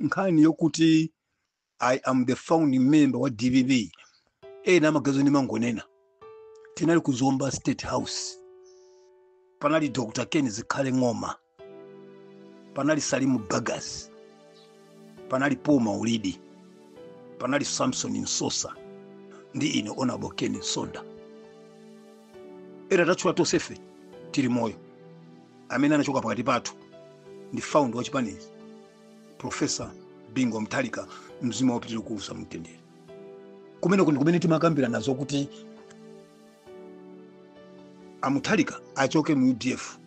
nkhani yokuti i am the founding member wa dpp ena amagazo ndimangonena tinali ku zomba state house panali dr ken zikhale ng'oma panali salimu bagas panali paul maulidi panali samson msosa ndi ine honourable ken nsonda ndatchula tonsefe tili moyo amene anachoka pakati pathu ndi founder wa chipanichi profesa bingu wa mutharika mzimu wawo upitirire kuusa mumtendere kumeneko ndi kumene timakambirana zokuti a mutharika achoke mu udf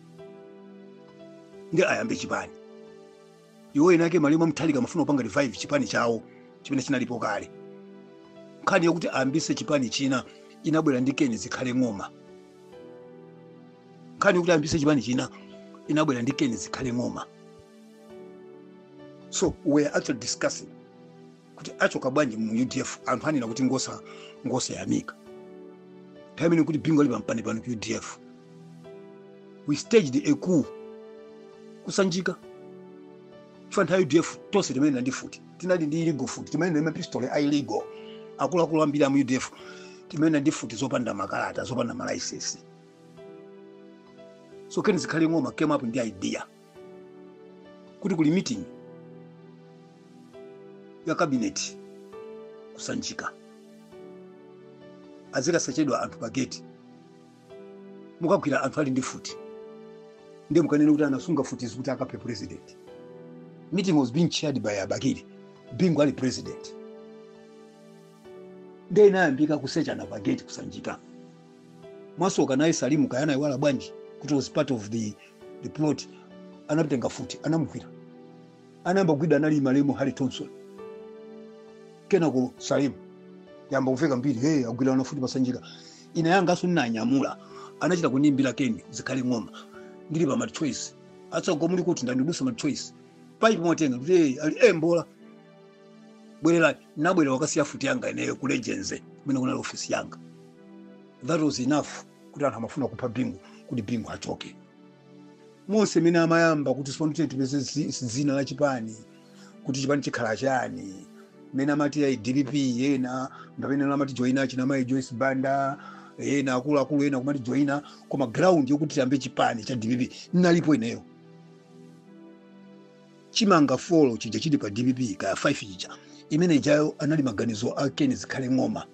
ndi ayambe chipani iwo eni ake malemu a mutharika amafuna kupanga revive chipani chawo chimene chinalipo kale nkhani yokuti ayambise chipani china inabwera ndi keni zikhale ng'oma nkhani yokuti ayambise chipani china inabwera ndi keni zikhale ng'oma so we were actually discussing kuti achoka bwanji mu udf anthu anena kuti ngosayamika nthawi imeneyo nkuti bingu ali pampanipani ku udf we staged a coup kusanjika chifukwa nthawi udf tonse timayenda ndi mfuti tinali ndi illegal mfuti timayenda ndi mapistole a illegal akuluakulu ambiri amu udf timayenda ndi mfuti zopanda makalata zopanda malaisensi so keni zikhale ng'oma came up ndi idea kuti kuli meeting ya kabineti kusanjika azikasechedwa anthu pa gate mukagwira anthu ali ndi mfuti ndiye mukanene kuti anasunga mfutizi kuti akaphe president meeting was being chaired by a bakili bingu ali president ndiye inayambika kusechana pa gate kusanjika mwasoka naye salimu kaya anayiwala bwanji kuti was part of the, the plot anatenga mfuti anamugwira anayamba kugwidwa anali malemu harry thompson kenako salimu yamba kuveka mbiri hey, agwidwa ndi mfuti pasanjika ine yanganso ndinanyamula anachita kundiimbira keni zikhale ng'oma ndili pa machoice afunsa kuti muli kuti ndati ndikudutsa machoice paipi mwatenga ndikuti ee, ali mbola bwererani ndinabwerera kukasiya mfuti yanga ineyo ku legends kumene kunali ofisi yanga that was enough kuti anthu amafuna kupha bingu kuti bingu achoke monse mmene timayamba kuti tsopano tiyeni tipeze zi- dzina la chipani kuti chipani chikhala chani mene amati ayi dpp ena ndi amene amatijoina achina amayi joyce banda ena akuluakulu ena kumatijoina koma ground yokuti tiyambe chipani cha dpp ndinalipo ineyo chimanga four chija chili pa dpp kaya 5 chija imene ijayo anali maganizo a ken zikhale ng'oma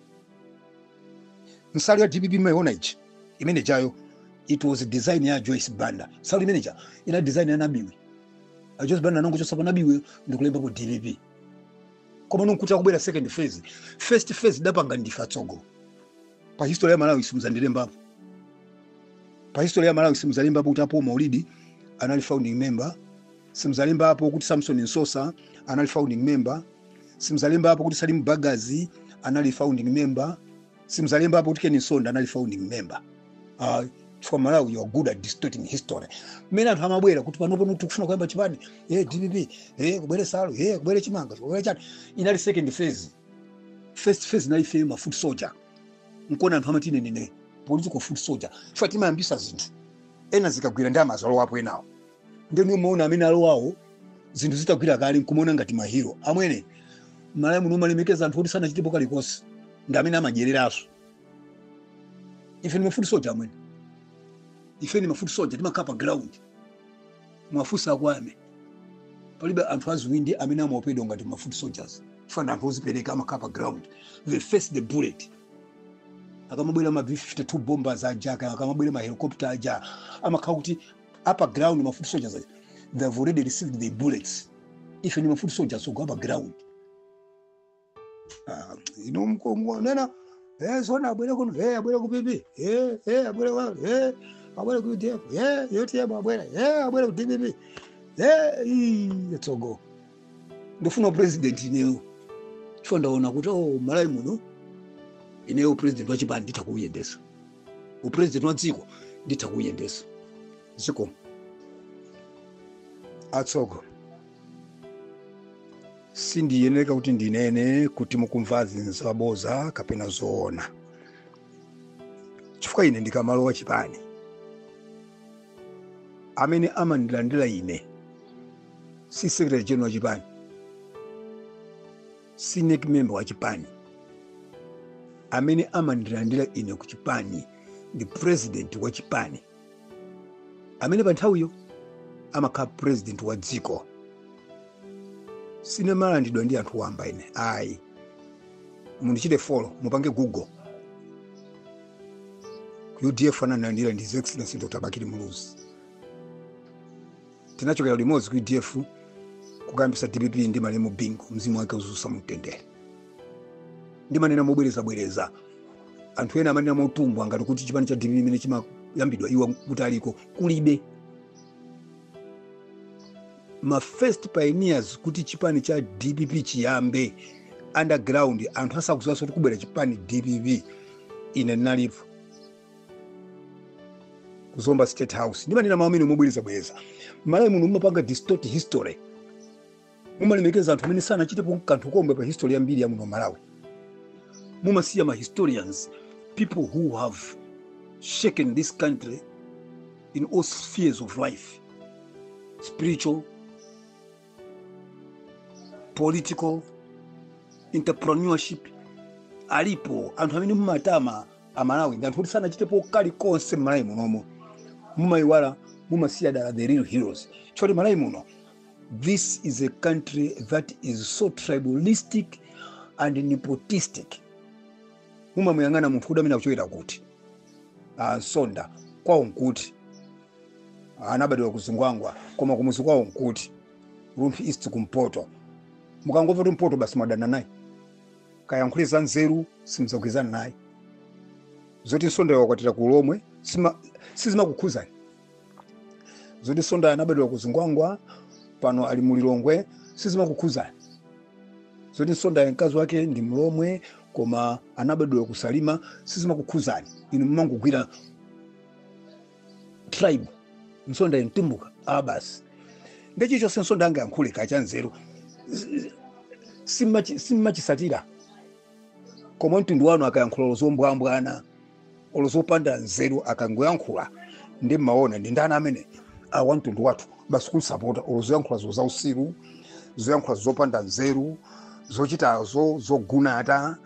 nsalu ya dpp mumaiona ija imene ijayo it was design ya a joyce banda nsalu imene ija inali design ya nabiwi a joyce banda anangochotsa pa nabiwi ndikulembapo dpp komano nkuti akubwera second phase first phase tidapanga ndife atsogolo pa history ya Malawi simuzandilembapo pa history ya Malawi simudzalembapo kuti a Paul Maulidi anali founding member, simudzalembapo kuti Samson Nsosa anali founding member, simudzalembapo kuti Salim Bagus anali founding member, simudzalembapo kuti Ken Msonda anali founding member. Uh, chifukwa Malawi you are good at distorting history. Mmene anthu amabwera kuti pano pano tikufuna kuyamba chipani eh DPP eh kubwere nsalu eh kubwere chimanga kubwere chani inali second phase first phase nayo ifeyo ma foot soldier nkuona anthu amati ine ndine political foot soldier chifukwa timayambisa zinthu ena zikagwira nde amazalowapo enawo ndiye mumaona amene alowawo zinthu zitagwira kale nkumaona ngati mahiro amwene malawi muno mumalemekeza anthu oti sanachitepo kalikonse ndi amene amadyereraso ife ndi ma foot soldier amwene ife ndi ma foot soldier timakhala pa ground Muwafunse akwame palibe anthu adzitho amene amaopedwa ngati ma foot soldiers chifukwa ndi anthu ozipereka amakhala pa ground they face the bullet akamabwera ma b52 bombers aja aka- akamabwera ma helicopter aja amakhala kuti apa ground ma foot soldiers aja, they have already received the bullets ife ndi ma foot soldiers ogwa pa ground Ah, inu mukungonena eh zona abwere kuno eh abwere ku PP eh eh abwere wa eh abwere ku UDF eh yote yabo abwere eh abwere ku DPP eh ii, tsogo ndikufuna upresident ineyo chifukwa ndaona kuti oh malawi muno ineyo upresident wa chipani nditha kuuyendesa upresident wa dziko nditha kuuyendesa zikomo atsogo sindiyenera kuti ndinene kuti mukumvazi nzaboza kapena zoona chifukwa ine ndikamalowa chipani amene amandilandira ine si secretary general wa chipani si NEC member wa chipani amene amandilandira ine ku chipani ndi president wa chipani amene pa nthawiyo amakhala purezidenti wa dziko sindimalandiridwa ndi anthu wamba ine ayi mundichite follow mupange google ku udf anandilandira ndi his excellency dr bakili muluzi tinachokera limodzi ku udf kukayambitsa dpp ndi malemu bingu mzimu wake uziusa mumtendere ndimanena mobwerezabwereza anthu ena amanena motumbwa ngati kuti chipani cha dpp imene chimayambidwa iwo ngati aliko kulibe ma first pioneers kuti chipani cha dpp chiyambe underground anthu asakuziwanso kuti kubwera chipani cha dpp ine ndinalipo kuzomba state house ndimanena mawu amenewa mobwerezabwereza malawi muno mumapanga distort history mumalemekeza anthu amene sanachitepo kanthu komwe pa history ya mbiri ya muno malawi mumasiya ma historians people who have shaken this country in all spheres of life spiritual political entrepreneurship alipo anthu amene mumatama amalawi ndi anthu oti sanachitepo kalikonse mmalawi munomo mumayiwala mumasiya dala the real heroes choti malawi muno This is a country that is so tribalistic and nepotistic. Mumamuyang'ana munthu kuti ameneyu akuchokera kuti msonda kwawo nkuti anabadwa kuzingwangwa koma kumuzi kwawo nkuti rumphi east kumpoto mukangomva kuti mpoto basi mwadana naye akayankhule za nzeru simuzagwirizana naye zoti msondayo anakwatira ku lomwe sima- sizimakukhuzani zoti msondayo anabadwa ku zingwangwa pano ali mu lilongwe sizimakukhudzani zoti msondayo mkazi wake ndi mlomwe koma anabadwa ku salima sizimakukhudzani inu mumangogwira tribe msondayo mtumbuka a basi nde chilichonse msondayo angayankhule kaya cha nzeru simmachi- simmachisatira koma wa mtundu wanu akayankhula olo zombwambwana olo zopanda nzeru akangoyankhula nde mmaona ndi ndani ameneyu a wamtundu wathu basi kumsapota olo zoyankhula zo zausiru zoyankhula zopanda nzeru zochitazo zogunata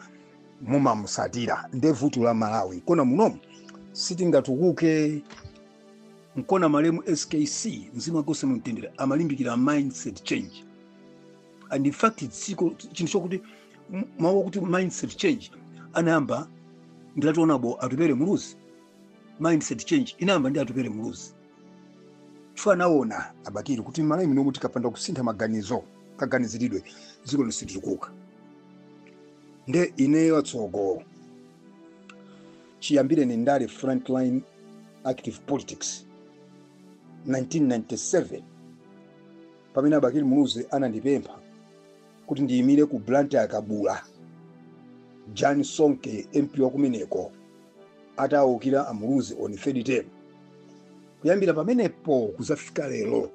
mumamusatira nde vuto la malawi nkona munomu sitingatukuke nkona malemu skc mzimu wake uuse mumtendere amalimbikira mindset change and in fact dziko chinthu chokuti m- mawu akuti mindset change anayamba ndi right honourable atupele muluzi mindset change inayamba ndi atupele muluzi chifukwa anaona abakili kuti malawi munomu tikapanda kusintha maganizo kaganiziridwe dziko ili situkuka nde ineyo atsogolo chiyambireni ndale frontline active politics 1997 pamene Abakili Muluzi anandipempha kuti ndiyimire ku Blantyre Kabula Jan Sonke MP wa kumeneko atawukira a Muluzi on 3rd term. Kuyambira pamenepo kuzafika lero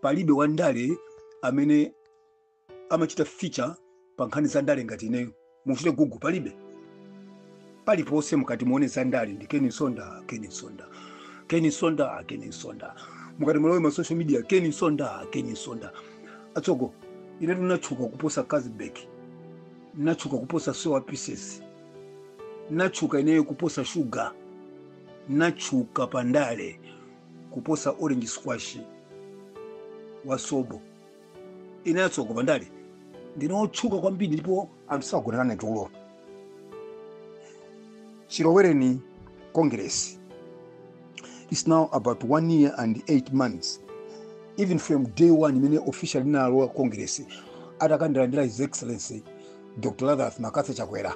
palibe wandale amene amachita feature pa nkhani za ndale ngati ineyo muchite Google palibe paliponse mukati muone za ndale ndi Ken Msonda Ken Msonda Ken Msonda Ken Msonda mukati mulowe ma social media Ken Msonda Ken Msonda atsogo ine ndinatchuka kuposa Cazbek ndinatchuka kuposa soya pieces ndinatchuka ineyo kuposa shuga ndinatchuka pa ndale kuposa orange squash wa Sobo ine atsogo pandale ndine otchuka kwambiri ndipo anthu sagona nane tulo chilowereni Congress is now about one year and eight months even from day one imene official ndinalowa Congress atakandilandira his excellency Dr Lazarus McCarthy Chakwera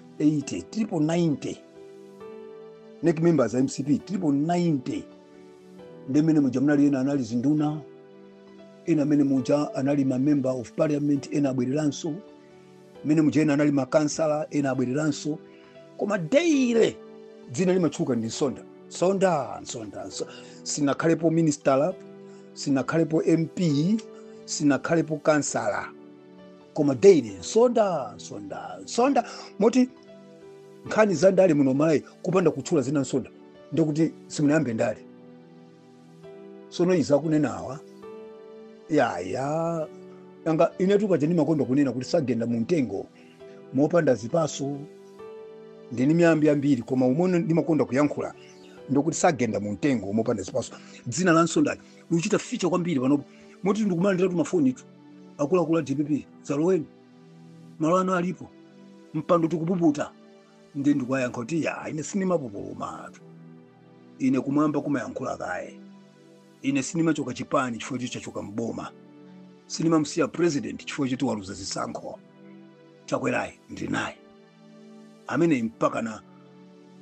80 tilipo 90 NEC members a MCP tilipo 90 nde mmenemuja munali ena anali zinduna ena mmenemuja anali ma member of parliament ena abwereranso mmenemuja ena anali makansala ena abwereranso koma daily dzina limatchuka ndi Msonda Msonda Msonda Mso- sinakhalepo minister sinakhalepo MP sinakhalepo kansala koma daily Msonda Msonda Msonda moti nkhani za ndale muno Malawi kupanda kutchula dzina Msonda ndikuti simunayambe ndale sono izi akunenawa yaya nanga inetu kaja ndimakonda kunena kuti sagenda mu mtengo mopanda zipatso ndili ndi miyambi yambiri koma umene ndimakonda kuyankhula ndikuti sagenda mu mtengo mopanda zipatso dzina la Msonda likuchita feature kwambiri panopo moti ndikumalandira tumafoni tu akuluakulu a DPP dzaloweni malo anu alipo mpando tikupuputa ndi ndikuwayankha kuti ya ine sindimapupulumatu ine kumwamba kumayankhula kaye ine sindimachoka chipani chifukwa choti chachoka mboma sindimamusiya president chifukwa choti waluza zisankho Chakwerayi ndili naye ameneyi mpakana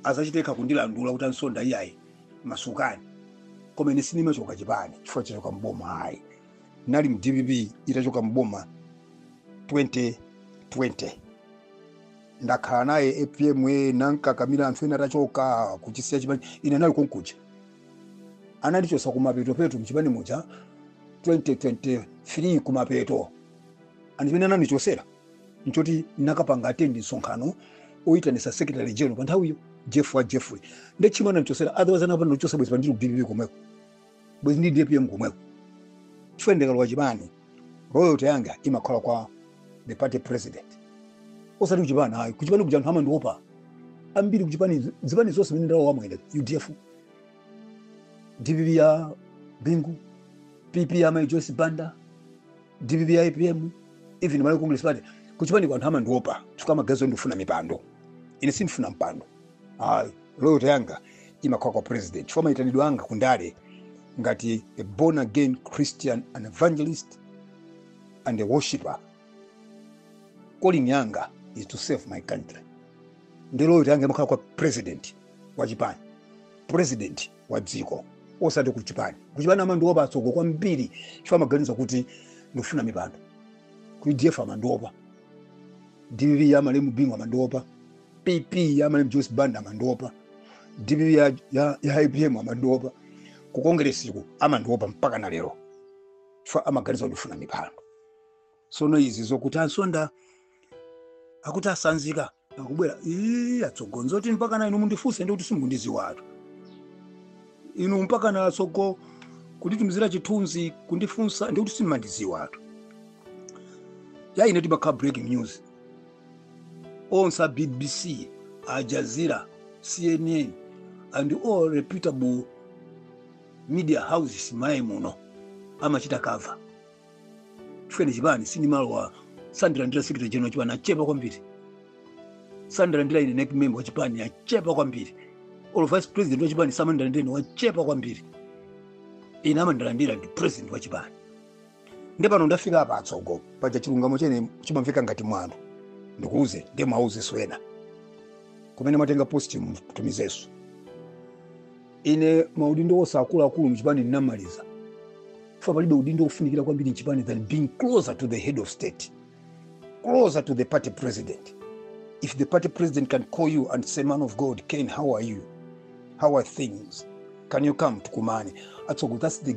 azachite kundilandula kuti a Msonda iyayi masukani koma ine sindimachoka chipani chifukwa chachoka mboma ayi nali mu DPP itachoka mboma 2020 ndakhala naye APM e nankakamira anthu ena atachoka kuchisiya chipani ine nali konkuja anandichosa kumapetopeto mchipani muja 2023 kumapeto and chimene anandichosera nchoti nakapanga attend msonkhano oyitanisa secretary general pa nthawiyo Jeff wa Jeffrey nde chimene anandichosera otherwise anapanda ndichosa bwezi pano ndili ku DPP komweko bwezi ndi apm komweko chifukwa ndikalowa chipani loyalty yanga imakhala kwa the party president osati kuchipani ayi kuchipani kuja anthu amandiopa ambiri kuchipani zipani zonse zimene ndalowa amwene udf dpp ya bingu pp ya mai joyce banda dpp ya apm even malawi congress party kuchipani kuja anthu amandiopa chifukwa amaganiza ndifuna mipando ine sindifuna mpando ayi loyalty yanga imakhala kwa president chifukwa mayitanidwe anga kundale ngati a born again christian an evangelist and a worshiper calling yanga is to serve my country ndi loyalty yanga imakhala kwa president wa chipani president wa dziko osati ku chipani ku chipani amandiopa atsogo ambiri chifukwa amaganiza kuti ndifuna mipando ku udf amandiopa dpp ya malemu bingu amandiopa pp ya malemu joyce banda amandiopa dpp ya, ya, ya apm amandiopa ku kongeresiku amandiopa mpaka na lero chifukwa amaganiza kuti ndifuna mipando sono izi zokuti a msonda akuti atsanzika akubwera ii atsogo nzoti mpaka na inu mundifunse ndi kuti simukundidziwatu inu mpaka na atsogo kunditumizira chithunzi kundifunsa ndi kuti simumandidziwatu ya ine timakhala breaking news onse a bbc al jazeera cnn and all reputable media houses malawi muno amachita cover chifukwa chipani sindimalowa samandilandira secretary general wa chipani achepa kwambiri samandilandira ine nec member wa chipani achepa kwambiri olo vice president wa chipani samandilandira ine wachepa kwambiri ine amandilandira ndi president wa chipani nde pano ndafika apa atsogo paja chilungamo chenicho chimamveka ngati mwano ndikuuze nde muwauze ena kumene mwatenga post mtumizeso ine maudindo wose akuluakulu mchipani ndinamaliza chifukwa palibe udindo wofunikira kwambiri mchipani than being closer to the head of state closer to the party president if the party president can call you and say man of god ken how are you how are things can you come tukumane atsogo that's the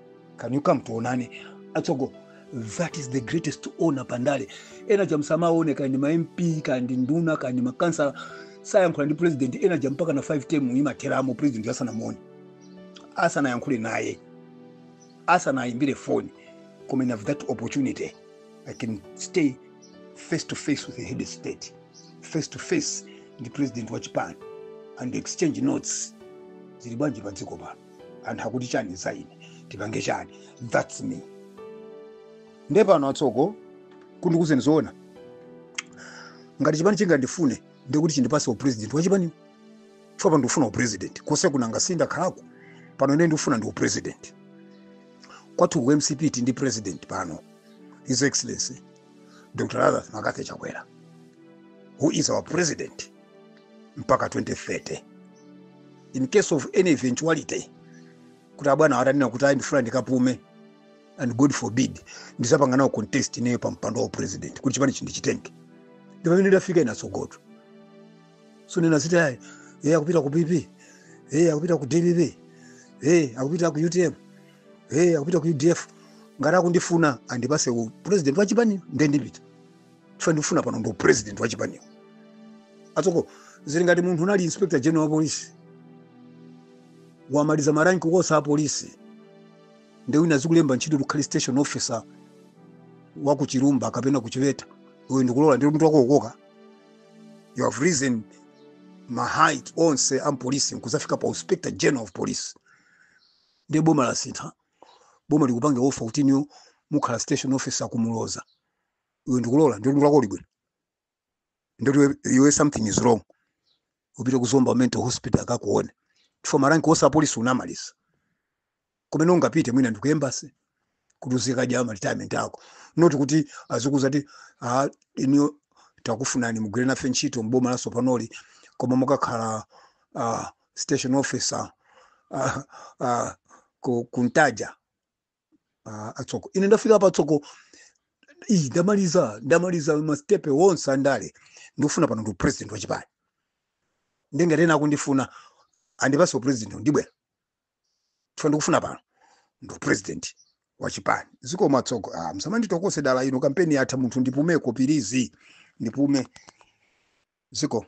can you come tuonane atsogo that is the greatest honor pandale enawa musamaone kaya ndi ma mp kaya ndi nduna kaya ndi makhansala sayankhula ndi president ena aja mpaka na 5 term imatheramo president asanamuone asanayankhule naye asanayimbire phone koma i have that opportunity i can stay face to face with the head of state face to face ndi president wa chipani and exchange notes zili bwanji pa dziko pano anthu akuti chani za ine tipange chani thats me nde pano atsogo ndikuuzeni zoona ngati chipani chingandifune ndikuti chindipase upresident wachipani chifukwa pano ndikufuna upresident kose kuja nanga sindakhalako pano ine ndikufuna ndi upresident kwathu ku mcp tili ndi president pano his excellency dr lazarus mccarthy chakwera who is our president mpaka 2030 in case of any eventuality kuti abwana atanena kuti ayi ndifuna ndikapume and god forbid ndizapanga nawo contest ineyo pa mpando wa president kuti chipanichi ndichitenge ndi pamene ndafika ine atsogotu zonena zoti ayi e akupita ku pp e akupita ku dpp e akupita ku utm e akupita ku udf ngati akundifuna andipase u president wa chipani ndendipita chifukwa ndikufuna pano ndi upresident wa chipaniwo atsogo zili ngati munthu unali inspector general wa polisi wamaliza maranki onse a polisi nde wina azikulemba ntchito ukhale station officer wa ku chilumba kapena ku chiweta iwe ndikulola nde mutu wako ukukoka you have risen ma height onse a mupolisi nkuzafika pa inspector general of police nde boma lasintha boma likupanga offer kuti inuyo mukhale station officer ku muloza iwe ndikulola ndikuti mutu wako uli bwino ndikuti iwe- iwe something is wrong upite ku zomba mental hospital akakuone chifukwa maranki onse apolisi unamaliza kumene ungapite mwina ndi ku embassy kuti uzikadya ma retirement ako not kuti azikuuza kuti ah, inuyo takufunani mugwire nafe ntchito mboma latsopanoli koma mukakhale ah, station officer ah, ah, ku, ku ntaja Ah, atsogo ine ndafika patsogolo ine ndamaliza ndamaliza masitepe onse andale ndikufuna pano ndi upresident wachipani nde ngati ena akundifuna andipase upresident ndibwera chifukwa ndikufuna pano ndi upresident wachipani zikomo atsogo ah, msamanditokose dala ino kampeni yatha munthu ndipumeko pilizi ndipume zikomo